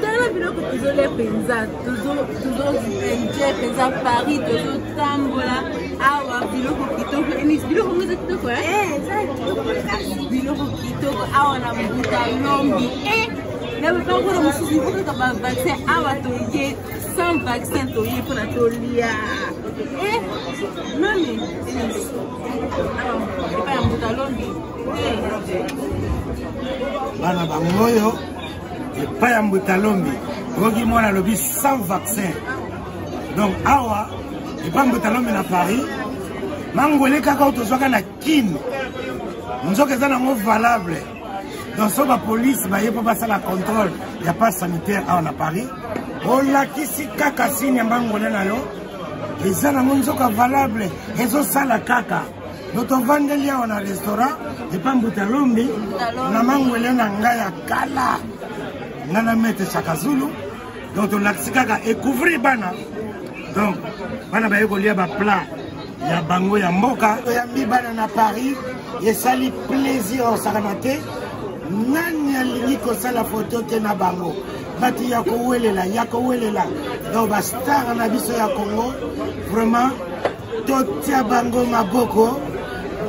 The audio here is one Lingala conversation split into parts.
tala biloko tozolia mpenza tozoenjoy mpenza paris tozotambola awa biloko kitoko enis biloko ngo eza kitoko biloko kitoko awa na mbuta lombi e na bapakolo mosusu okaka bavaccin awa toye sans vaccin toye mpona tolia e nani enis epai ya mbuta lombi bana bango oyo epai ya mbuta lombi okoki mwana alobi sans vaccin donc awa epai mbuta lombi na paris mangwele kaka oyo tozwaka na kine nzoka eza nango valable donc so bapolice baye mpo basala contrôle ya passe sanitaire awa na paris olakisi kaka sini ya mangwele na yo eza nango nzoka valable ezosala kaka totovandeli awa na restaurant epa mbuta lombi na mangwele na ngai ya kala ngai na mete chakazulu donc tolakisi kaka ekouvrir bana donc bana baye kolia baplat ya bango ya mboka toyambi bana na paris esali plaisir osakana te nani alingi kosala foto te na bango bato ya kowelela ya kowelela donc bastar na biso ya congo vraiment totia bango maboko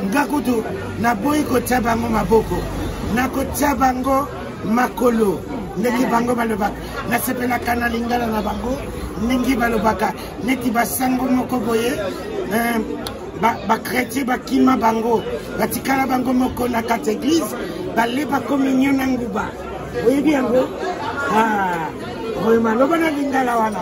nga kutu naboyi kotia bango maboko nakotia bango makolo ndenge bango balobaka nasepelaka na lingala na bango ndenge balobaka neti basango moko boye eh, bakretien bakima bango batikala bango moko na kati eglize baleba kominio na nguba oyebi yango ah, oyo maloba na lingala wana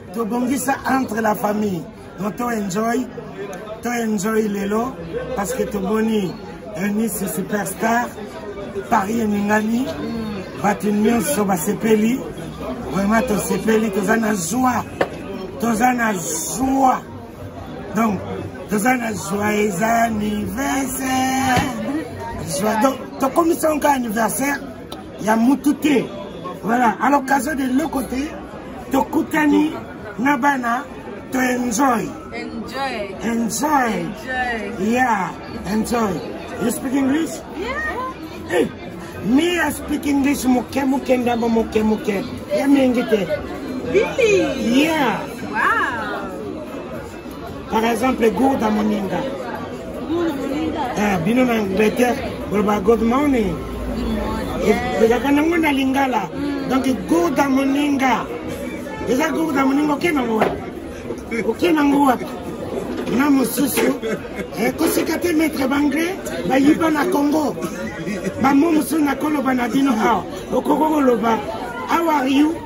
tobongisa entre la famille donc to enjoy to enjoy lelo parce que tomoni eunice superstar paris eningani bato nyonso basepeli vraiment tosepeli toza na joie toza na joie donc toza na joyeux anniversaire joie donc tokomisa yango anniversaire ya mutu te voilà à l'occasion de le côté tokutani na bana to enjoy enjoy enjoy yeah enjoy you speak english yeah hey me i speak english moke moke ndambo moke moke ya mingi te really yeah wow par exemple gourda moninga eh, bino na angleterre boloba good morning ezalaka nango na lingala mm. donc gourda moninga eza gourda moninga oke nango wapi oke nango wapi na mosusu eh, kosika te maître banglais bayiba na congo bamo mosusu nakoloba na bino awa okoki koloba how are you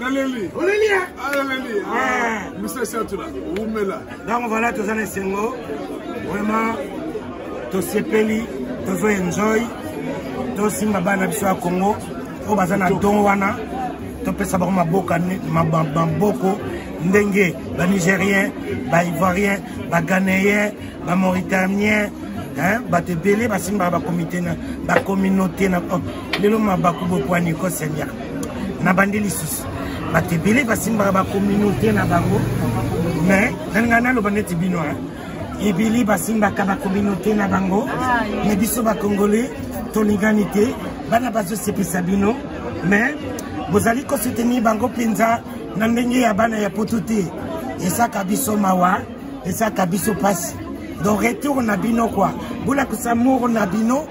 naleli oleli ye ah, naleli ah, ah. misa satula wumela donc voilà toza na esengo vraiment tosepeli tozo enjoy tosimba bana biso ya congo oyo baza na don wana topesa bango maboka maboko ndenge banigérien baivoirien baganéen bamauritaniens bato ebele basimbaka bakomite na bacommunauté na oh, lelo mabaku bopwani ko seigneur na bande lisusu bato ebele basimbaka bacommunauté na bango mais nani ngai naloba neti bino ebele basimbaka bacommunauté na bango mais biso bacongolais tolingani te bana bazosepisa bino mais bozali kosoutenir bango mpenza na ndenge ya bana ya poto te esaka biso mawa ezaka biso pasi donc retour na bino quoi bolakisa moro na bino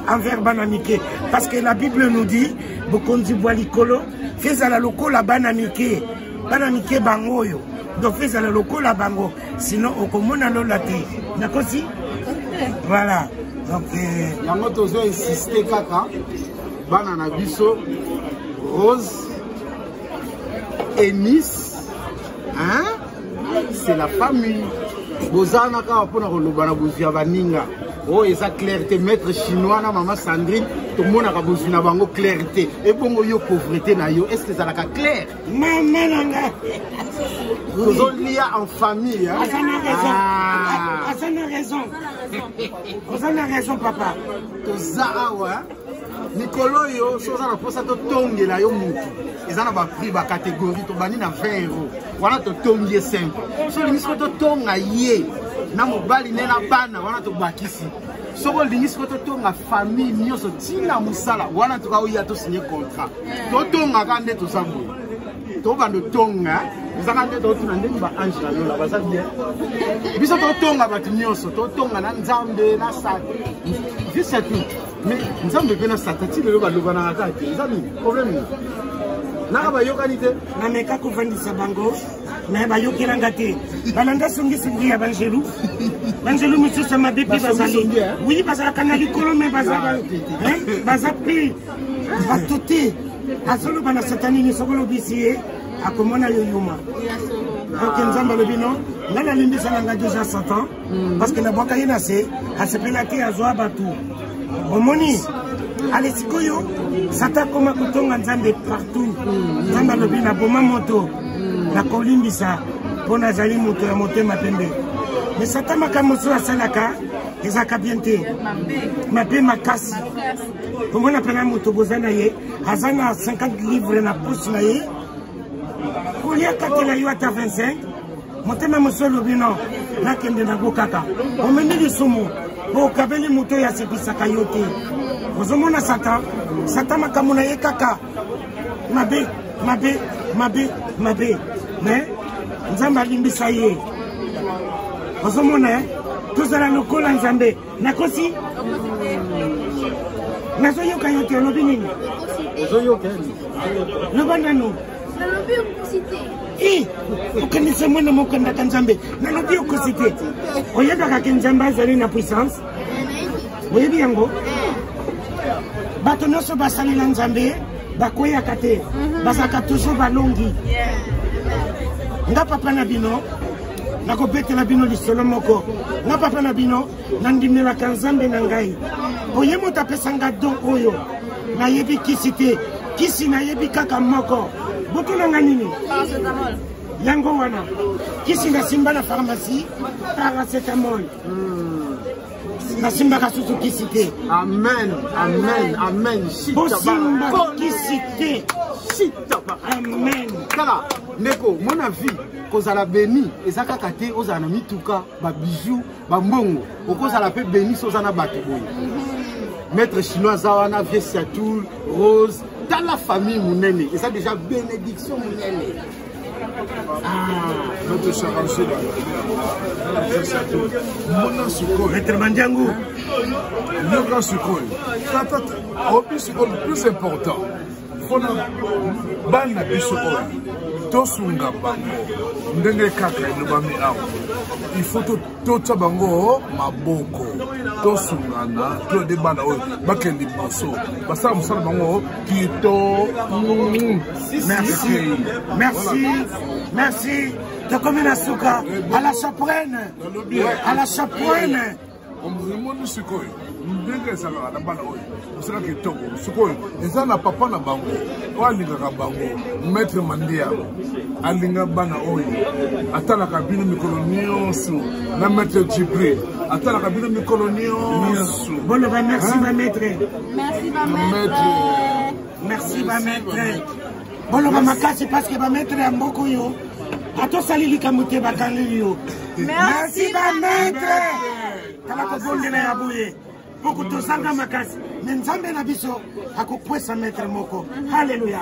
envers bana mike parce que la bible nous dit bokonzi bwa likolo fe ezala lokola bana mike bana mike bango oyo donc fe ezala lokola bango sinon okomona lola te nakosi voilà donc euh, yango tozo insiste kaka bana na biso rose enis hein c'est la famille bozana kaka mpona koloba na bozwi ya baninga oyo oh, eza claire te maître chinois na mama sandrine tomonaka bozwi na bango claire te ebongo yo pauvrete na yo est ce que ezalaka claire mama na nga tozolia en famille aza na raison ah. aza na raison oza na raison papa toza awa mikolo oyo soki oza na mposa totongela yo motu eza na baprix bacatégorie tobandi na 20 euro wana totongi ye simple so olingi siko totonga ye na mobali ne na bana wana tobakisi soki olingi siko totonga famille nyonso ntina mosala wana tuka oya tosinye contrat totongaka nde toza boye tobanda otonga ezaka nde totuna ndenge baange na lola baza bien biso totonga bato nyonso totonga na nzambe na sat juste tout mais nzambe mpe na sata ti lelo balobanaka kaka te eza nini problème nini naka bayokani te nameka kovandisa bango me bayokelanga te balanda songisongi ya bangelu bangelu mosusu ya mabe mpe bazali wi bazalaka na likolo me baza mpe bato te azoloba na satani nini soki olobisi ye akomona yo yuma ok nzambe alobi no ngai nalimbisa na ngai deja satan mm. parce que na bwaka ye na se asepela te azwa bato omoni ale sikoyo sata akoma kotonga nzambe partout mm. nzambe alobi na boma moto mm. nakolimbisa mpo nazali moto ya motema pembe me sata makambo mosusu asalaka ezalaka bien te mabe makasi omona mpena moto boza na ye aza na 50 livre na posi na ye kolia katela yo ata 25 motema mosu elobi no nakende nago kaka omemi lisumu mpo okabeli moto oyo asekwisaka yo te ozomona satan satan makambo na ye kaka mabe mabe mabe mabe me nzambe alimbisa ye ozomona eh? tozala lokola nzambe nakosi nazoyoka yo te olobi nini ozoyoka loba nanu nalobi okosi te i okanisa mwana moko andaka nzambe nalobi okosi te oyebaka ke nzambe azali na puissance oyebi yango bato nyonso basalela nzambe bakweyaka te mhm. bazalaka toujours balongi nga papa na bino nakobetela bino lisolo moko na papa na bino nandimelaka nzambe na ngai mpo ye moto apesa nga don oyo nayebi kisi te kisi nayebi kaka moko botuna nga nini yango wana kisi nasimba na pharmacie paracetamol nasimbaka susu kisi te amen amen amen bosimba kisi te amen tala ndeko mona vie kozala beni eza kaka te ozala na mituka babiju bambongo okozala mpe beni so oza na bato boye mhm. maître chinois aza wana vie siatoul rose tala famille monene eza déjà bénédiction monene mona sikoyo retrema njangu yoka sikoyo tata obi sikoyo plus important mpona bana biso oyo tosunga bango ndenge kaka elobami awa ifo totya bango maboko tosungana toyede bana oyo bakende liboso basala mosala bango kito merci merci merci tokomi na suka à la chaprene à la chaprene omoni sikoyo ndenge ezalaka na bana oyo mosala kitoko sikoyo eza na papa na bango oyo alingaka bango maître mandia alinga bana oyo atalaka bino mikolo nyonso na maître jibril atalaka bino mikolo nyonso boloba merci ba maître merci ba maître merci ba maître boloba makasi paske bametre ya mboka oyo atosali likambo te bakangi yo merci bametre tala kobondela ya boye mpo kutozanga makasi me nzambe na biso akokwesa metre moko haleluya